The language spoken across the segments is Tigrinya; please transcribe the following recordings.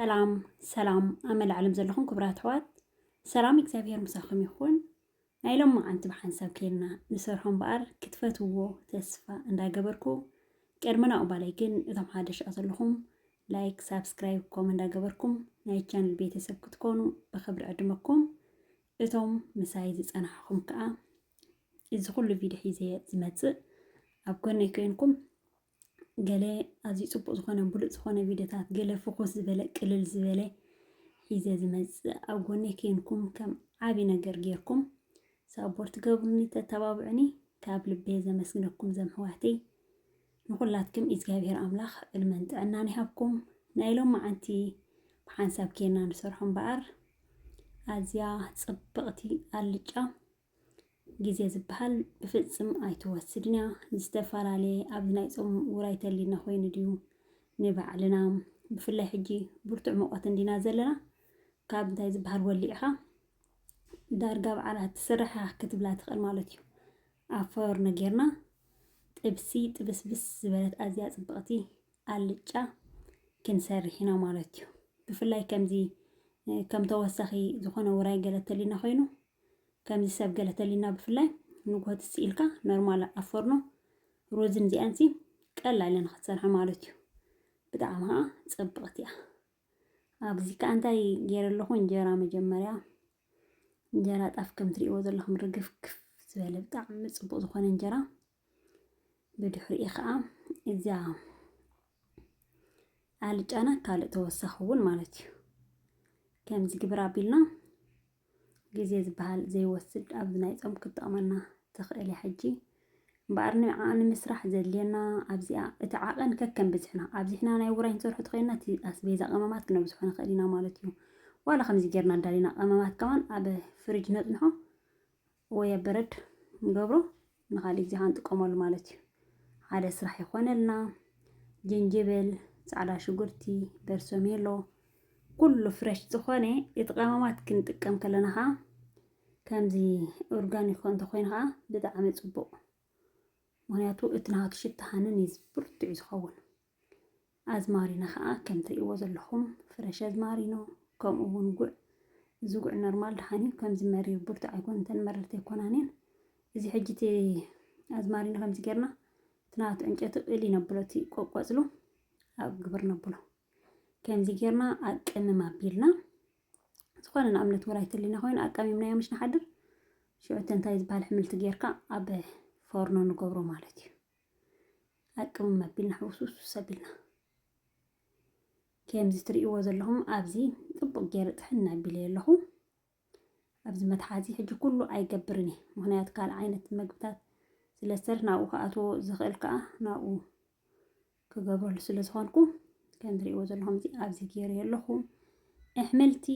ሰላም ሰላም ኣብ መላእ ዓለም ዘለኹም ክቡራት ኣሕዋት ሰላም እግዚኣብሄር ምሳኹም ይኹን። ናይ ሎማዓንቲ ብሓንሳብ ኬልና ንሰርሖ እምበኣር ክትፈትውዎ ተስፋ እንዳገበርኩ ቅድሚ ናብኡ ባለይ ግን እቶም ሓደሽ ዘለኹም ላይክ፣ ሳብስክራይብ፣ ኮም እንዳገበርኩም ናይ ቻነል ቤተሰብ ክትኮኑ ብክብሪ ዕድመኩም። እቶም ምሳይ ዝፀናሕኹም ከዓ እዚ ኩሉ ቪድዮ ሒዘ ዝመፅእ ኣብ ጎነይ ኮይንኩም ገለ ኣዝዩ ጽቡቅ ዝኮነ ብሉጽ ዝኮነ ቪድዮታት ገለ ፍኩስ ዝበለ ቅልል ዝበለ ሒዘ ዝመጽእ ኣብ ጎነይ ኬንኩም ከም ዓቢ ነገር ጌርኩም ሳፖርት ገብሩኒ ተተባብዑኒ ካብ ልቤ ዘመስግነኩም ዘምሕዋተይ ንኩላትኩም እግዚኣብሔር ኣምላኽ ዕድመን ጥዕናን ይሃብኩም ናይ ሎም መዓንቲ ብሓንሳብ ኬና ንሰርሖ እምበኣር ኣዝያ ጽብቕቲ ኣልጫ ግዜ ዝበሃል ብፍጽም ኣይትወስድን እያ። ዝተፈላለየ ኣብዚ ናይ ጾም ውራይ ተልዩና ኮይኑ ድዩ ንባዕልና ብፍላይ ሕጂ ብርቱዕ ሙቐት እንዲና ዘለና ካብ እንታይ ዝበሃል ወሊዕኻ ዳርጋ በዓላት ትስራሕ ክትብላ ትኽእል ማለት እዩ ኣብ ፈርኖ ጌርና ጥብሲ ጥብስብስ ዝበለት ኣዝያ ፅብቕቲ ኣልጫ ክንሰርሕ ኢና ማለት እዩ ብፍላይ ከምዚ ከም ተወሳኺ ዝኾነ ውራይ ገለ ተልዩና ኮይኑ ከምዚ ሰብ ገለ ተሊና ብፍላይ ንግሆ ትጽ ኢልካ ኖርማል ኣብ ፎርኖ ሩዝን እዚኣን ሲ ቀላል እየን ክትሰርሓ ማለት እዩ ብጣዕሚ ከዓ ጽብቕቲ እያ ኣብዚ ከዓ እንታይ ገይረ ኣለኹ እንጀራ መጀመርያ እንጀራ ጣፍ ከም ትሪእዎ ዘለኹም ርግፍግፍ ዝበለ ብጣዕሚ ጽቡቕ ዝኾነ እንጀራ ብድሕሪኡ ከዓ እዚያ ኣልጫና ካልእ ተወሳኺ እውን ማለት እዩ ከምዚ ግብር ኣቢልና ግዜ ዝበሃል ዘይወስድ ኣብዚ ናይ ፆም ክጠቕመና ትኽእል እያ ሕጂ እምበኣር ንዓ ንምስራሕ ዘድልየና ኣብዚኣ እቲ ዓቐን ከከም ብዝሕና ኣብዚሕና ናይ ውራይ ንሰርሑ ተኸይና እቲ ኣስቤዛ ቀመማት ክነብዝሖ ንኽእል ኢና ማለት እዩ ዋላ ከምዚ ጌርና ኣዳሊና ቀመማት ከማን ኣብ ፍርጅ ነፅንሖ ወይ ኣብ በረድ ንገብሮ ንካሊእ ግዜ ካኣ ንጥቀመሉ ማለት እዩ። ሓደ ስራሕ ይኾነልና። ጀንጀብል፣ ጻዕዳ ሽጉርቲ፣ በርሶሜሎ ኩሉ ፍረሽ ዝኾነ እቲ ቀመማት ክንጥቀም ከለና ካኣ ከምዚ ኦርጋኒክ እንተኾይኑ ካኣ ብጣዕሚ ጽቡቕ ምክንያቱ እቲ ናሃቱ ሽታ ሃንን እዩ ብርቱዕ ዝኸውን። ኣዝማሪኖ ከኣ ከም ትርእይዎ ዘለኹም ፍረሽ ኣዝማሪኖ ከምኡ ውን ጉዕ እዚ ጉዕ ኖርማል ደሓን እዩ ከምዚ መሪር ብርቱዕ ኣይኮነን እተን መረርቲ ኣይኮናን እየን እዚ ሕጂ እቲ ኣዝማሪኖ ከምዚ ጌርና እቲ ናቱ ዕንጨቱ እል ይነብሎ እቲ ቆቆጽሉ ኣብ ግብር ነብሎ ከምዚ ጌርና ኣቀምም ኣቢልና ዝኾነ ንኣብነት ውራይ ተሊና ኮይኑ ኣቀሚምናዮ ምሽ ንሓድር ሽዑ እቲ እንታይ ዝበሃል ሕምልቲ ጌርካ ኣብ ፎርኖ ንገብሮ ማለት እዩ ኣቅምም ኣቢልና ሕውስውስ ኣቢልና ከምዚ ትርእይዎ ዘለኹም ኣብዚ ጽቡቕ ገይረ ጥሕን ኣቢለ ኣለኹ ኣብዚ መትሓዚ ሕጂ ኩሉ ኣይገብርን እየ ምክንያቱ ካልእ ዓይነት መግብታት ስለ ዝተርፍ ናብኡ ክኣትዎ ዝኽእል ከዓ ናብኡ ክገብረሉ ስለ ዝኾንኩ ከም ትርእይዎ ዘለኹም ኣብዚ ገይረ ኣለኹ ኣሕምልቲ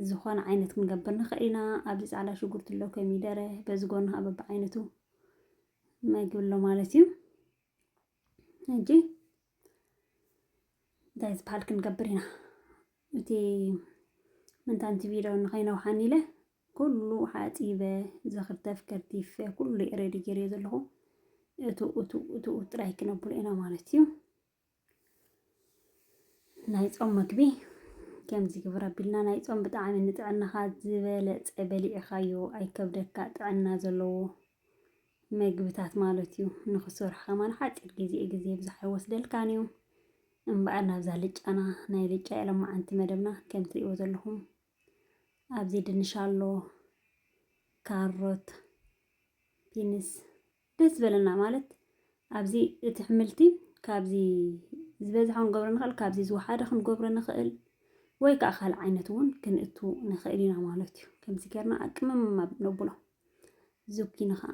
ዝኾነ ዓይነት ክንገብር ንኽእል ኢና። ኣብዚ ጻዕዳ ሽጉርቲ ኣሎ፣ ኮሚደረ፣ በዚ ጎኒ ከዓ በብዓይነቱ መግቢ ኣሎ ማለት እዩ። ሕጂ እንታይ ዝበሃል ክንገብር ኢና? እቲ ምንታንቲ ቪድዮ ንኸይነውሓኒ ኢለ ኩሉ ሓፂበ ዘኽርተፍ ከርቲፈ ኩሉ ሬዲ ገይረዮ ዘለኹ እቱ እቱ እቱ ጥራይ ክነብሎ ኢና ማለት እዩ። ናይ ጾም መግቢ ከምዚ ግብር ኣቢልና ናይ ጾም ብጣዕሚ ንጥዕናኻ ዝበለጸ በሊዕኻዮ ኣይከብደካ ጥዕና ዘለዎ መግብታት ማለት እዩ ንኽሰርሑ ከማን ሓፂር ግዜ ግዜ ብዙሕ ኣይወስደልካን እዩ እምበኣር ናብዛ ልጫና ናይ ልጫ የለማዓንቲ መደብና ከም ትሪእዎ ዘለኹም ኣብዚ ድንሽ ኣሎ ካሮት ቢንስ ደስ ዝበለና ማለት ኣብዚ እቲ ሕምልቲ ካብዚ ዝበዝሐ ክንገብሮ ንኽእል፣ ካብዚ ዝወሓደ ክንገብሮ ንኽእል ወይ ከዓ ካልእ ዓይነት እውን ክንእቱ ንኽእል ኢና ማለት እዩ። ከምዚ ጌርና ኣቅምምማ ነብሎ። ዙኪኒ ከዓ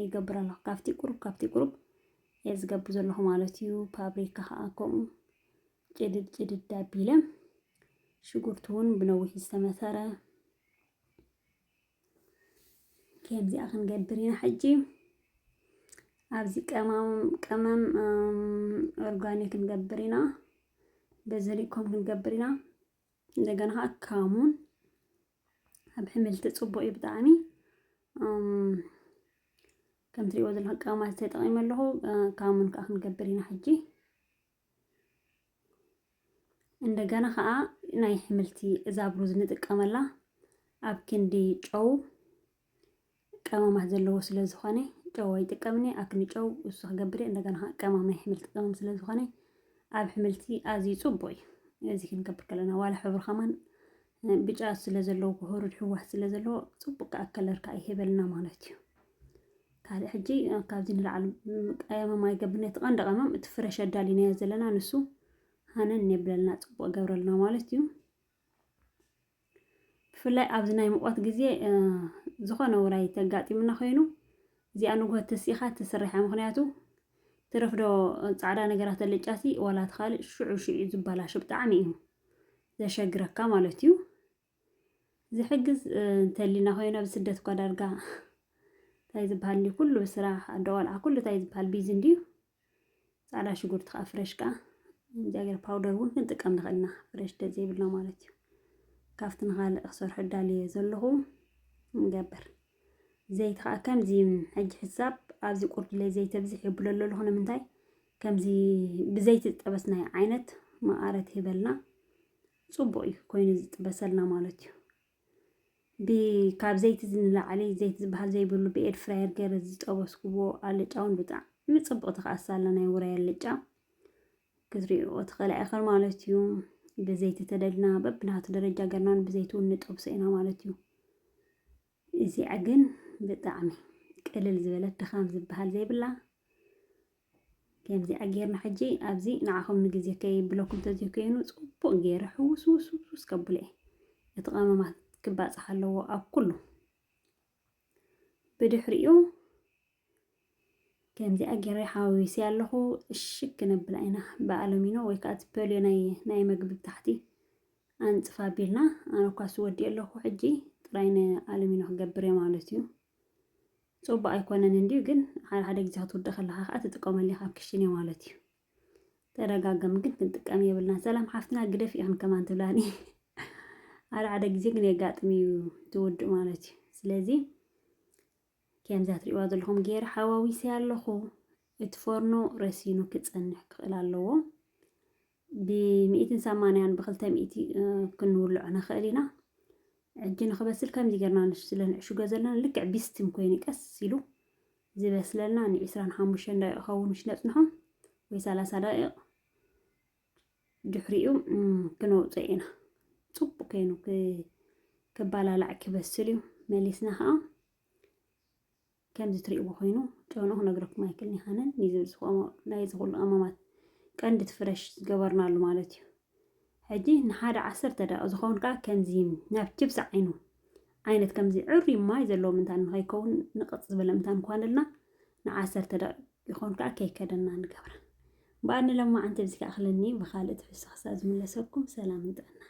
ይገብር ኣለኹ ካብቲ ቁሩብ ካብቲ ቁሩብ እየ ዝገብር ዘለኹ ማለት እዩ። ፓብሪካ ከዓ ከምኡ ጭድድ ጭድድ ኣቢለ ሽጉርቲ እውን ብነዊሕ ዝተመተረ ከምዚኣ ክንገብር ኢና ሕጂ ኣብዚ ቀማም ቀመም ኦርጋኒክ ክንገብር ኢና በዘሊኮም ክንገብር ኢና እንደገና ከዓ ካሙን ኣብ ሕምልቲ ፅቡቅ እዩ ብጣዕሚ ከምትሪእዎ ዘለኹም ቀማት ተጠቂመ ኣለኹ ካሙን ከዓ ክንገብር ኢና ሕጂ እንደገና ከዓ ናይ ሕምልቲ እዛ ብሩዝ ንጥቀመላ ኣብ ክንዲ ጨው ቀመማት ዘለዎ ስለ ዝኾነ ጨው ኣይጥቀምኒ ኣክኒ ጨው እሱ ክገብር እንደገና ከዓ ቀማም ናይ ሕምልቲ ቀመም ስለ ዝኾነ ኣብ ሕምልቲ ኣዝዩ ፅቡቅ እዩ እዚ ክንገብር ከለና ዋላ ሕብሩ ከማን ብጫ ስለ ዘለዎ ክህሩድ ሕዋስ ስለ ዘለዎ ጽቡቅ ከኣ ከለር ከኣ ይህበልና ማለት እዩ። ካልእ ሕጂ ካብዚ ንላዕሊ ቀመም ኣይገብርን እቲ ቀንዲ ቀመም እቲ ፍረሽ ኣዳሊናዮ ዘለና ንሱ ሃነን የብለልና ጽቡቅ ገብረልና ማለት እዩ። ብፍላይ ኣብዚ ናይ ሙቐት ግዜ ዝኾነ ውራይ ተጋጢሙና ኮይኑ እዚኣ ንግሆ ተሲኢኻ ትስርሐ ምክንያቱ ትረፍዶ ጻዕዳ ነገራት ኣለጫሲ ዋላ ትኻልእ ሽዑ ሽዑ ዝበላሾ ብጣዕሚ እዩ ዘሸግረካ ማለት እዩ ዝሕግዝ እንተሊና ኮይና ብስደት እኳ ዳርጋ እንታይ ዝበሃል እንዲ ኩሉ ብስራሕ ኣዶ ቆልዓ ኩሉ እንታይ ዝበሃል ቢዚ እንድዩ ፃዕዳ ሽጉርቲ ከዓ ፍረሽ ከዓ እግዚኣብሔር ፓውደር እውን ክንጥቀም ንኽእል ኢና ፍረሽ ደዘይብልና ማለት እዩ ካብቲ ንካልእ ክሰርሑ እዳልየ ዘለኹ ንገብር ዘይቲ ከዓ ከምዚ ሕጂ ሕሳብ ኣብዚ ቁርድለይ ዘይተብዝሕ የብሎ ኣለኹ ንምንታይ ከምዚ ብዘይቲ ዝጠበስናዮ ዓይነት መቐረት ይህበልና ፅቡቕ እዩ ኮይኑ ዝጥበሰልና ማለት እዩ ካብ ዘይቲ ንላዕሊ ዘይቲ ዝበሃል ዘይብሉ ብኤድ ፍራየር ገይረ ዝጠበስኩዎ ኣልጫ እውን ብጣዕሚ ፅቡቕ ተኸኣሳ ኣሎ ናይ ውራይ ኣልጫ ክትሪእዎ ትኽእላ ኢኽን ማለት እዩ ብዘይቲ ተደልና በብናቱ ደረጃ ገርናን ብዘይቲ እውን ንጠብሶ ኢና ማለት እዩ እዚኣ ግን ብጣዕሚ ቅልል ዝበለት ድኻም ዝበሃል ዘይብላ ከምዚኣ ጌርና ሕጂ ኣብዚ ንዓኹም ንግዜ ከይብለኩም ተዘይኮይኑ ጽቡቕ ጌረ ሕውስውስውስ ከብሎ እየ እቲ ቐመማት ክባጻሕ ኣለዎ ኣብ ኩሉ ብድሕሪኡ ከምዚኣ ጌረ ሓዋዊሰያ ኣለኹ እሽግ ክነብላ ኢና ብኣለሚኖ ወይ ከዓ እቲ ፐልዮ ናይ ናይ መግቢ ብታሕቲ ኣንፅፍ ኣቢልና ኣነ እኳ ስወዲእ ኣለኹ ሕጂ ጥራይ ንኣለሚኖ ክገብር እየ ማለት እዩ ፅቡቅ ኣይኮነን እንዲዩ ግን ሓደ ሓደ ግዜ ክትውድእ ከለካ ከዓ ትጥቀመሉ ኢካ ኣብ ክሽን እየ ማለት እዩ ተደጋገም ግን ክንጥቀም የብልና ሰላም ሓፍትና ግደፍ ኢኽን ከማን ትብላኒ ሓደ ሓደ ግዜ ግን የጋጥም እዩ ትውድእ ማለት እዩ ስለዚ ከምዛ ትሪእዋ ዘለኹም ገይረ ሓዋዊሰያ ኣለኹ። እቲ ፎርኖ ረሲኑ ክፀንሕ ክኽእል ኣለዎ። ብሚእትን ሰማንያን ብክልተ ሚእቲ ክንውልዖ ንኽእል ኢና። ሕጂ ንኽበስል ከምዚ ገርና ስለ ንዕሽጎ ዘለና ልክዕ ቢስቲም ኮይኑ ቀስ ኢሉ ዝበስለልና ንዒስራን ሓሙሽተን ደቂቕ ክኸውን ምስ ነፅንሖ ወይ ሰላሳ ደቂቕ ድሕሪኡ ክነውፅኦ ኢና ፅቡቅ ኮይኑ ክባላላዕ ክበስል እዩ መሊስና ከዓ ከምዚ ትሪእዎ ኮይኑ ጨኑ ክነግረኩም ኣይክልን ይኸነን ናይዚ ኩሉ ቀመማት ቀንዲ ትፍረሽ ዝገበርናሉ ማለት እዩ ሕጂ ንሓደ ዓሰርተ ደቂቕ ዝኸውን ከዓ ከምዚ ናብ ችብሲ ዓይኑ ዓይነት ከምዚ ዕሩይ ማይ ዘለዎ ምንታን ንኸይከውን ንቕፅ ዝበለ ምንታን ኳንልና ንዓሰርተ ደቒቕ ይኾን ከኣ ከይከደና ንገብራ እምበኣር ንሎማዓንቲ ብዚከኣኽለኒ ብኻልእ ትሕዝቶ ክሳብ ዝምለሰኩም ሰላምን ጥዕናን።